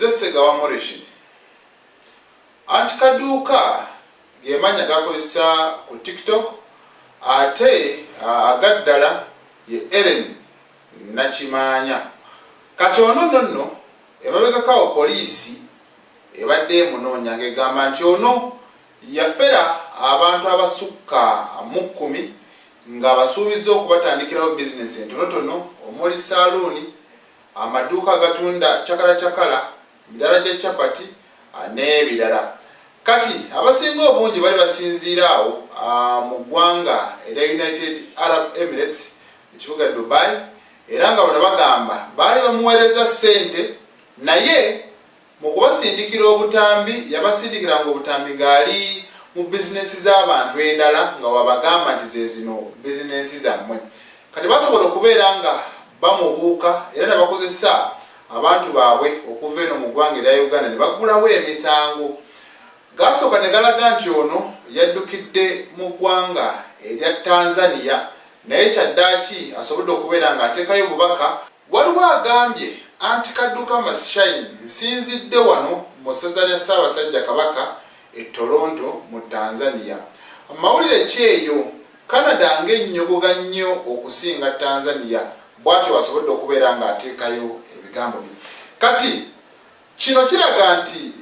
nze segawa moreshid anti kaduuka gemanya gakozesa ku tiktok ate agaddala ye eren nakimanya kati ono no nno emabegakawo poliisi ebadde emunoonya nga egamba nti ono yafera abantu abasukka mukkumi ng'abasuubizza okubatandikirawo bizinensi entonotono omuli ssaaluuni, amaduuka agatunda cakalacakala, midaala gya chapati n'ebirala. Kati abasinga obungi bali basinziira awo mu ggwanga erya United Arab Emirates mu kibuga Dubai era nga bano bagamba baali bamuweerezza ssente naye Mu kubasindikira obutambi, yabasindikiranga obutambi ng'ali mu bizinensi z'abantu endala nga w'abagamba nti ze zino bizinensi zammwe. Kati basobola okubeera nga bamubuuka era ne bakozesa abantu baabwe okuva eno mu ggwanga erya Uganda ne baggulawo emisango. Gaasooka ne galaga nti ono yaddukidde mu ggwanga erya Tanzania naye kyaddaaki asobodde okubeera ng'ateekayo obubaka Waliwo agambye anti Kadduka must shine nsinzidde wano mu ssaza lya Ssaabasajja Kabaka e Toronto mu Tanzania. Mawulire ki eyo? Canada ng'ennyogoga nnyo okusinga Tanzania, bwatyo bw'asobodde okubeera ng'ateekayo ebigambo bye. Kati kino kiraga nti.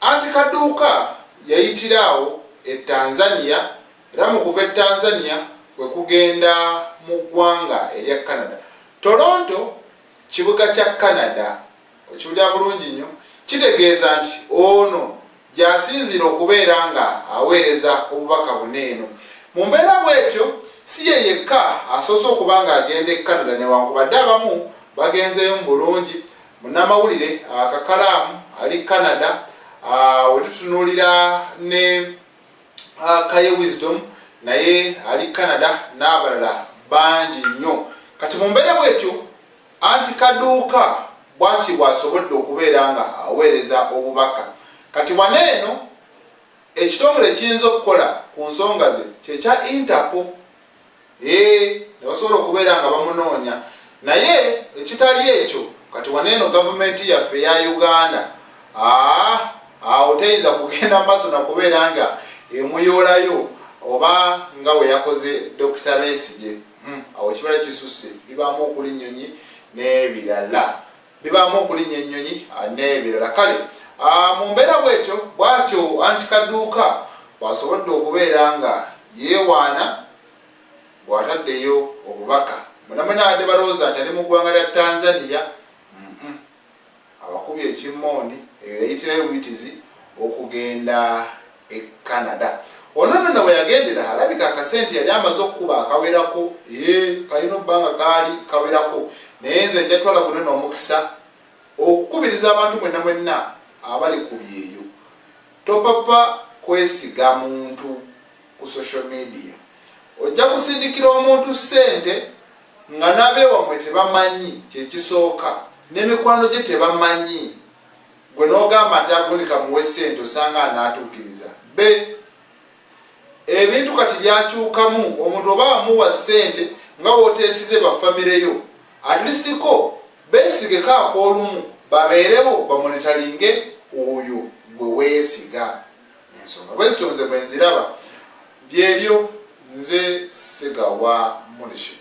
Anti Kaduuka yayitira awo e Tanzania era mu kuva e Tanzania kwe kugenda mu ggwanga erya Canada. Toronto kibuga kya Canada, okiwulira bulungi nnyo, kitegeeza nti ono gy'asinziira okubeera ng'aweereza obubaka bune eno. Mu mbeera bw'etyo si ye yekka asoose okuba ng'agenda e Canada newankubadde abamu bagenzeeyo mu bulungi Munnamawulire Kakalaamu ali Canada wetutunuulira ne Kaye Wisdom naye ali Canada n'abalala bangi nnyo kati mu mbeera bwetyo anti kaduuka bwati bwasobodde okubeera nga aweereza obubaka kati wana eno ekitongole kiyinza okukola ku nsonga ze kyekya interpo ee nebasobola okubeera nga bamunoonya naye ekitali ekyo kati waneeno gavumenti yaffe eya uganda aa awo teyinza kugenda maaso nakubeera nga emuyoolayo oba nga weyakoze dokita besigye hmm, awo ekibala kisusse bibaamu okulinyonyi n'ebirala bibaamu okulinya ennyonyi ah, n'ebirala kale ah, mu mbeera bwetyo bwatyo anti kaduuka bwasobodde okubeera nga yeewaana bw'ataddeyo obubaka munamunaade balowooza nti ali mu ggwanga lya tanzania abakubye ekimmooni eyo yayitirayo buyitizi okugenda e Canada. Ono nno weyagendera alabika akasente yali amaze okukuba akawerako ee kalina obbanga kaali kawerako naye nze njatwala guno n'omukisa okukubiriza abantu mwenna mwenna abali ku byeyo topapa kwesiga muntu ku social media ojja kusindikira omuntu ssente nga n'abeewamwe tebamanyi kyekisooka n'emikwano gye tebamanyi Gwe n'ogamba nti agundi kamuwe ssente osanga anaatuukiriza. Be. Ebintu kati byakyukamu, omuntu oba wamuwa ssente nga w'oteesize ba famire yo, at least ko beesigeko ak'olumu babeerewo bamonitalinge oyo gwe weesiga. Ensonga bwe zityo nze bwe nziraba. Byebyo nze Ssegawa Murishid.